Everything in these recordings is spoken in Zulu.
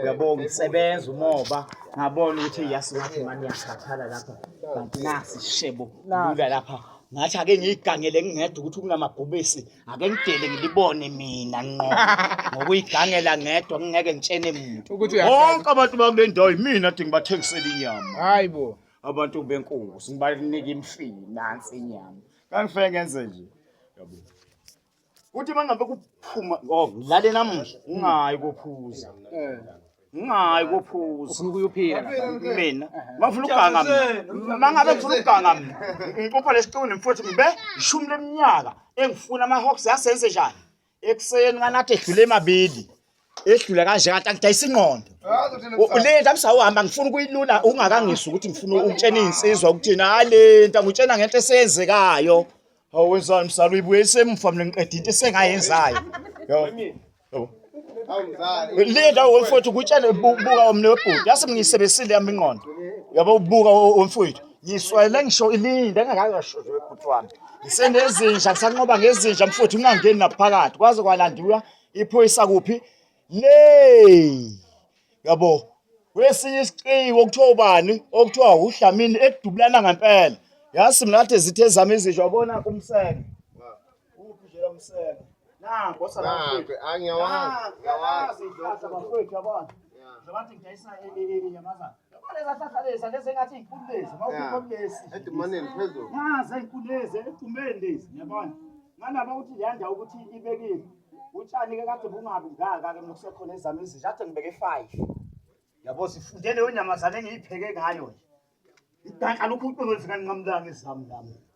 uyabonga isebenza umoba ngabona ukuthi yasi ngathi mani yakhathala lapha kanti nasi shebo lula lapha ngathi ake ngiyigangele ngingedwa ukuthi kunamabhubesi ake ngidele ngilibone mina nqo ngokuyigangela ngedwa ngingeke ngitshene muntu bonke abantu bakule ndawo yimina dingi bathengisela inyama hayi bo abantu benkosi ngibanika imfini nansi inyama kangifeke ngenze nje yabo Uthi mangabe kuphuma oh ngilale namuhla ungayi kophuza. Eh. Ungayi kophuza. Ufuna ukuyophila mina. Mafuna ukuganga mina. Mangabe ngifuna ukuganga mina. Ngicupha lesiquni mfowethu ngibe ishumi leminyaka engifuna ama hawks yasenze njani? Ekuseni kanati edlule emabili. edlula kanje kanti angidayisa ingqondo le nto amsawuhamba ngifuna ukuyilula ungakangizwa ukuthi ngifuna ukutshena iy'nsizwa ukuthini hhayi le nto angutshena ngento eseyenzekayo hawu wenzani msala uyibuye isemufa mina ngiqeda into esengayenzayo le nto womfowethu ukutshena buka omne webhuti yase ngiyisebenzisile yami ingqondo yabo ubuka womfowethu ngiswele ngisho ilinde engakakasho webhuti wami ngisenezinja ngisanqoba ngezinja mfowethu ungangeni naphakathi kwaze kwalandiwa iphoyisa kuphi le yabo wesinye isiciko okuthiwa ubani okuthiwa uDlamini ekudubulana ngempela yasi mina athe zithe zami izisho wabona kumseke uphi nje lo mseke nango sangakwethu angiyawazi ngiyawazi ihlahla bafowethu yabona njengoba ngidayisa inyamazana Ngibalezahlaleza lezi engathi inkulu lezi, mawukhipha kulesi. Edumaneni phezulu. Ngaze inkulu lezi equmeni lezi, yabona. Ngalaba ukuthi leyanda ukuthi ibekile. Utshani ke kade bungabi ngaka ke nokusekhona ezami izinja kade ngibeke 5. Yabo sifunde leyo nyamazane engiyipheke ngayo nje. Idanka lokhu uqobo lifika nqamlanga ezami lami.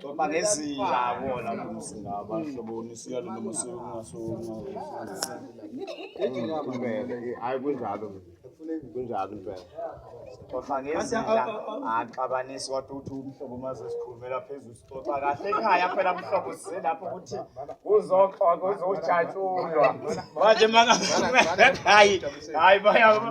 Xoxa ngezinja bona mbuzi ngaba hlobo nisiya lo noma siyo kungasonga. Hayi kunjalo. Kunjalo impela. Xoxa ngezinja axabanisi wathi uthi umhlobo maze sikhulumela phezulu sixoxa kahle ekhaya phela mhlobo size lapho ukuthi kuzoxoxa kuzojatshulwa. Manje maka hayi hayi bayaba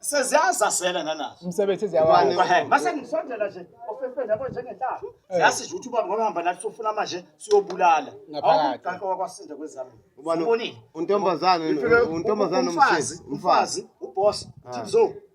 seziyazasela nanazo umsebenzi Ubani? ziyawa mase ngisondela nje ofefeni yabo njengenhlaba siyazi nje ukuthi ubaba ngoba hamba nathi sofuna manje siyobulala Ngaphakathi. awukuqanka wakwasinda kwezami Ubani? Ubonile? untombazane Ngifike untombazane umfazi umfazi umfazi uboss thimzo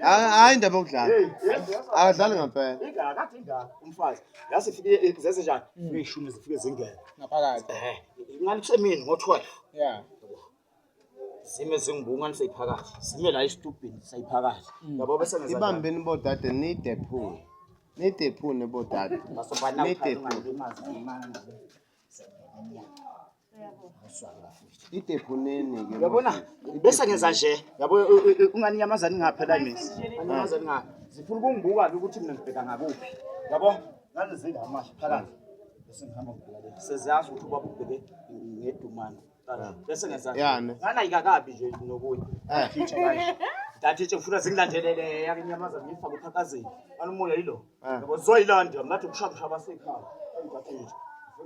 hayi indaba yokudlala akadlali ngempela ingakade ingaka umfazi yase ifike eh, zese njani hmm. ishumi zifike zingene ngaphakathi eh ingani kusemini ngo12 yeah zime zingibungani seyiphakathi zime la istubhini seyiphakathi hmm. yabo bese ngenza ibambeni bodade nide phone nide phone bodade nide phone Idephuneni ke. Uyabona? Bese ngenza nje. Yabo ungani inyamazane ingaphela imisi. Inyamazane nga. Zifuna ukungibuka ke ukuthi mina ngibheka ngakuphi. Yabo? Ngalezinga amasha phakathi. Bese ngihamba ngibheka. Seziyazi ukuthi ubaba ubheke ngedumane. bese ngezansi yani nganayika kabi nje nokuya eh future kahle Dati nje ngifuna singilandelele yake inyamaza ngifaka uphakazini. Anomoya yilo. Eh. Yabo zoyilanda ngathi ukushaya ushaya basekhaya. Dati nje.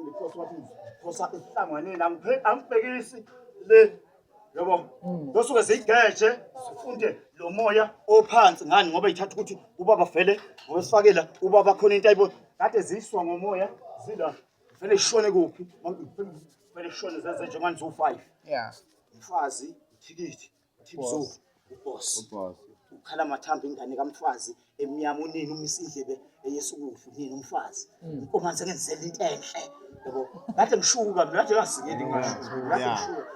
Ngifuna ikhosi wathi khosa ihlanganeni angiphe angibhekisi le. Yabo. Hmm. Dosuke sigeje sifunde lo moya ophansi ngani ngoba ithatha ukuthi ubaba vele ngowesifakela ubaba khona into ayibo kade ziswa ngomoya zila Vele ishone kuphi? Vele ishone zenze nje manje u5. Yeah. Mfazi, uthikithi, uthibzo, uboss. Uboss. Ukhala mathambo ingane kamfazi emnyama unini umisa indlebe eyesukudla unini umfazi. Mm. Inkomanzi engenzela into enhle. Yabo. Ngathi ngishuka mina nje ngasikeli ngisho. Ngathi ngishuka.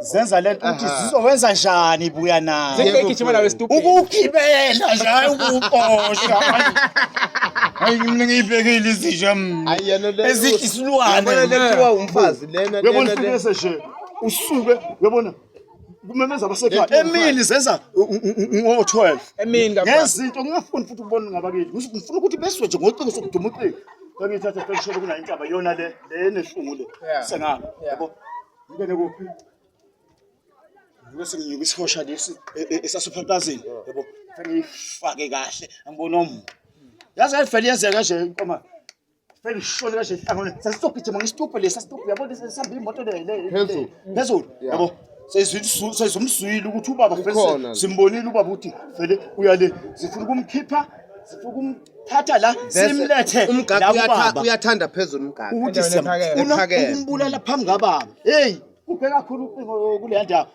zenza le nto ukuthi zizowenza njani buya nayo Zingigijima nawe stupid. ukugibela nje hayi ukuqosha Hayi. hayi mina ngiyibhekile izinja mina Hayi yena le. ezithi isilwane Yabona le kuthiwa umfazi lena uyabona lena. lena. ufikise nje usuke uyabona kumemeza abasekhaya Lethu emini zenza ngo-12 Emini kakhulu. ngezinto ngingafuni futhi ukubona ngabakithi Ngis- ngifuna ukuthi beswe nje ngocingo sokuduma ucingo sengiyithatha sengisholo kunayo intaba yona le le enehlungu le Yeah. sengalo Yeah. yabo Ngene kuphi? Ngibese nginyuka isihosha lesi e- e- esasophantasini. Yabo. Fanele ifake kahle. Angibona omu. Yazi ayivele yenzeka kanje inqoma. Fanele ishole kanje ihlangane. Sasizogijima ngesituphe lesi sasituphe yabo lesi sihamba imoto le le. Phezulu. Phezulu. Yeah. Yabo. Sezwile sezumzwile ukuthi ubaba Ikhona. fanele simbonile ubaba ukuthi fanele uyale. Sifuna ukumkhipha. Sifuna ukum thatha la simlethe umgaka uyatha uyathanda phezulu umgaka ukuthi siyamfuna ukumbulala phambi kababa hey kuphe kakhulu ucingo kule ndawo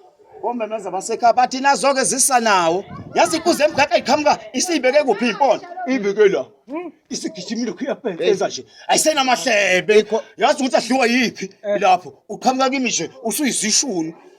omemeza basekhaya bathi nazoke zisa nawo yazi ikuze emgaka iqhamuka isiyibeke kuphi impona ibeke la hmm? isigijimile khuyabhekeza nje ayisenamahlebe yazi ukuthi adliwa yiphi eh. lapho uqhamuka kimi nje usuyizishuni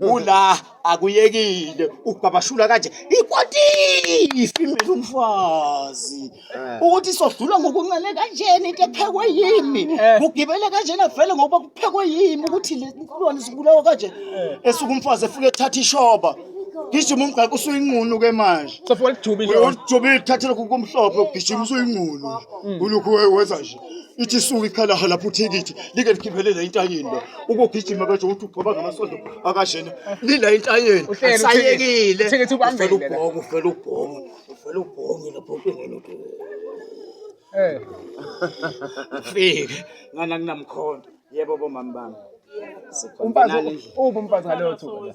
ula akuyekile ukubabashula kanje ikwatisi mina umfazi eh. ukuthi sodlula ngokuncane kanjena into ephekwe yimi eh. kugibele kanjena vele ngoba kuphekwe yimi ukuthi le nkulwane sibulawa kanje eh. esuke umfazi efike ethatha ishoba gijima umgaqo usuyinqunu ke manje sefike lijubile ujubile thathe lokhu kumhlophe ugijima usuyinqunu mm. ulokhu wenza nje ithi isuke ikhalaha lapho uthikithi like likhiphele la intanyeni la ukugijima kanje ukuthi ugcoba ngamasondo akashena lila intanyeni sayekile uthikithi ubambele ubhongo ufela ubhongo ufela ubhongo lapho kungena uthi eh fike ngana kunamkhonto yebo bomama bami umfazi ubu umfazi ngaleyo thuba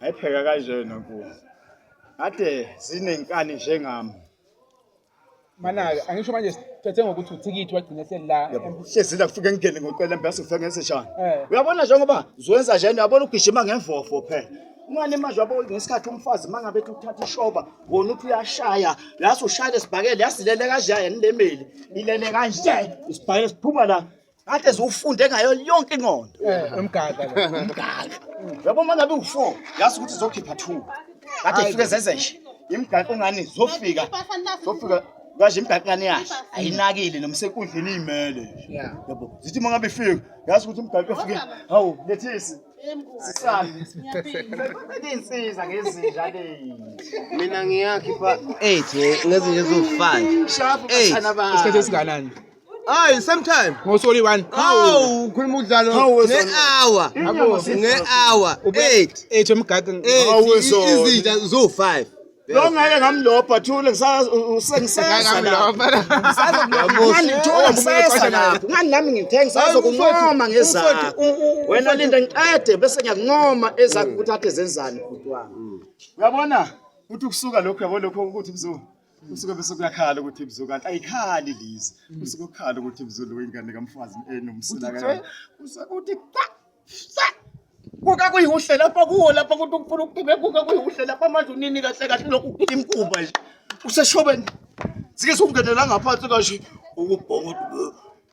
Ayipheka kanjena nkosi. Ade zinenkani njengami. Manake angisho manje siphethe ngokuthi uthikithi wagcina selila. Hlezi la kufike ngingene ngoqela mbese ufike ngeseshana. Eh. Uyabona njengoba zwenza njena uyabona ugijima ngemvofo phela. Umane manje wabo ngesikhathi umfazi mangabe ethi uthatha ishoba wona uthi uyashaya yasi ushaya lesibhakele yasilele kanje yena lemeli ilele kanje isibhakele siphuma la Kade ziwufunde ngayo yonke inqondo. Umgaga lo. Umgaga. Yabo manje abe u4, yazi ukuthi zokhipha 2. Kade ifike zenze nje. Imgaga ungani zofika. Zofika kaje imgaga ngani yahle. Ayinakile noma senkundleni imele. Yabo. Zithi mangabe ifika, yazi ukuthi imgaga ifike. Hawu, lethisi. Sisami. Insiza ngezinja le. Mina ngiyakhi pha. Eje ngezinje zofa. Shafu bathana ba. Isikhathi esinganani? Hayi same time. Ngosoli one. Hawu ukhuluma udlalo nge-hour. Nge-hour. 8. 8 emgaqo. 8 izinja zo 5. lo ngeke ngamlobha thule ngani nami ngithengi sazokuncoma ngezakho wena linda ngiqede bese ngiyakuncoma ezakho ukuthi athe zenzani bhuti wami uyabona ukuthi ukusuka lokho yabo lokho ukuthi kuzo kusuke bese kuyakhala ukuthi ibzu kanti ayikhali lizi kusuke kukhala ukuthi ibzu lo ingane kamfazi enomsila kayo kusuke kuthi kuka kuyihuhle lapha kuwo lapha kuthi ukufuna ukuthibe kuka kuyihuhle lapha manje unini kahle kahle lokhu ukuthibe imkuba nje useshobeni sike siwungenela ngaphansi kashi ukubhonga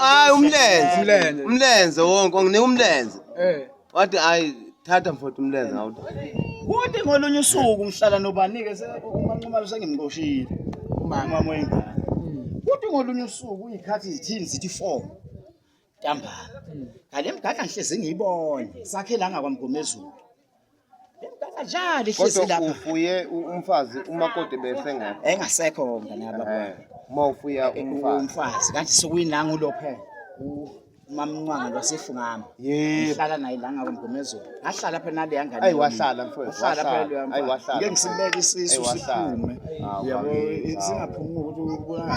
hayi umlenze umlenze wonke nginika umlenze eh. wathi hayi thatha mfowethu umlenze ngawuthi kuthi ngolunye usuku ngihlala nobanike umanqumalo sengimqoshile umama wengane kuthi ngolunye usuku uyikhathi izithini zithi four ntambama ngale mgada ngihlezi ngiyibone sakhe la ngakwamgomezulu le mgada njalo ihlezi kodwa lapha ufuye u- umfazi umakoti besengekho engasekho mngane Eh, yababa uma ufuya umfazi umfazi kanti sukuyinanga ulophe umamncwanga lwasefungama yebo ngihlala naye la ngakwamgomezulu ngahlala phela naleya ngane Ayi, yami. wahlala, mfowethu, wahlala wahlala. phela leya Ayi, mfana. wahlala, ngeke ngisibeke mfowethu. isisu Ayi, wahlala. siphume Ah, yabo wabe- singaphumi ukuthi ubulala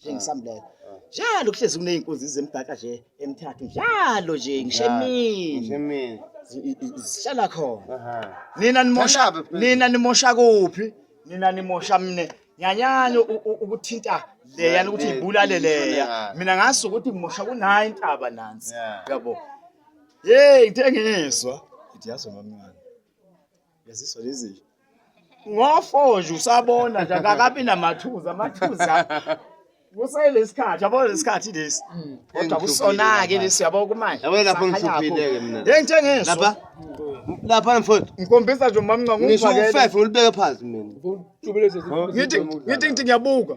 njengisambulela njalo kuhlezi kuney'nkunzi zemgaka nje emthathu njalo nje ngisho emini Ngisho emini. zi- i- i- zihlala khona Aha. nina nimosha Kangabe phela. nina nimosha kuphi nina nimosha mine nyanyani u- u- ukuthinta leyani ukuthi Le- ibulale le- leya yeah. mina ngazi ukuthi ngimosha kunayo intaba nansi Yeah. yabo yeyi ngithe ngizwa ngithi yazi mamncane yaziswa lezi nje ngofoje usabona nje akakabi namathuza amathuza kuselesikhathi yabo lesikhathi lesi mm. kodwa kusona ke lesi yabo kumanje yabo lapho ngihluphile ke mina ngithe ngeso lapha lapha mfowethu ngikhombisa nje umamnca ngumfakele ngisho u5 ngilibeke phansi mina ngithi ngithi ngiyabuka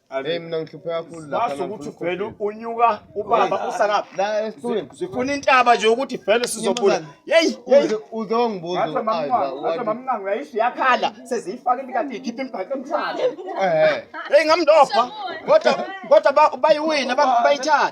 Hey mina ngihlupheka kakhulu la. Base ukuthi uvele unyuka ubaba usakaphi? La esitulweni. Sifuna intaba nje ukuthi vele sizophula. Hey, uze wangibuza. Athi mamnqangu, athi mamnqangu yayisho yakhala seziyifaka imikati ikhipha imibhaco emhlanje. Eh. Hey ngamndopha. Kodwa kodwa bayiwina bayithatha.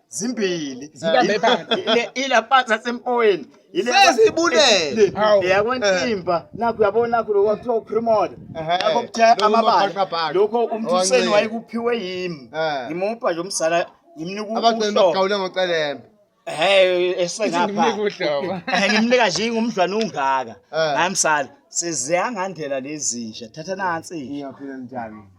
zimbili zibambe phansi ila phansi asempoweni sezibulele yakwentimba eh. nakho uyabona nakho lokho kuthiwa uprimoda nakho kuthe amabala lokho umthuseni wayekuphiwe yimi eh. ngimupha nje umsala ngimnika ubuhlobo ngocelembe Hey esengapha. Ngimnika nje ingumdlwana ungaka. Eh. Ngamsala. Siziyangandela lezi nje. Thatha nansi. Ngiyaphila njani?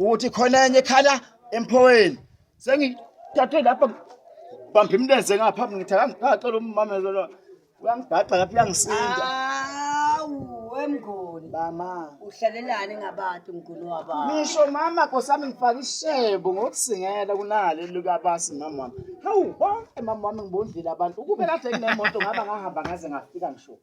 ukuthi khona enye ekhala emphoweni sengithathe lapha bamba imlenze ngapha ngithi akangicela ummamelo lo uyangibhaqa lapha uyangisinda awu wemnguni mama uhlalelani ngabantu mnguni wabantu ngisho mama kosami ngifaka ishebo ngokusingela kunale likabasi mama wami hawu bonke mama wami ngibondlile abantu ukube kade nginemoto ngaba ngahamba ngaze ngafika ngisho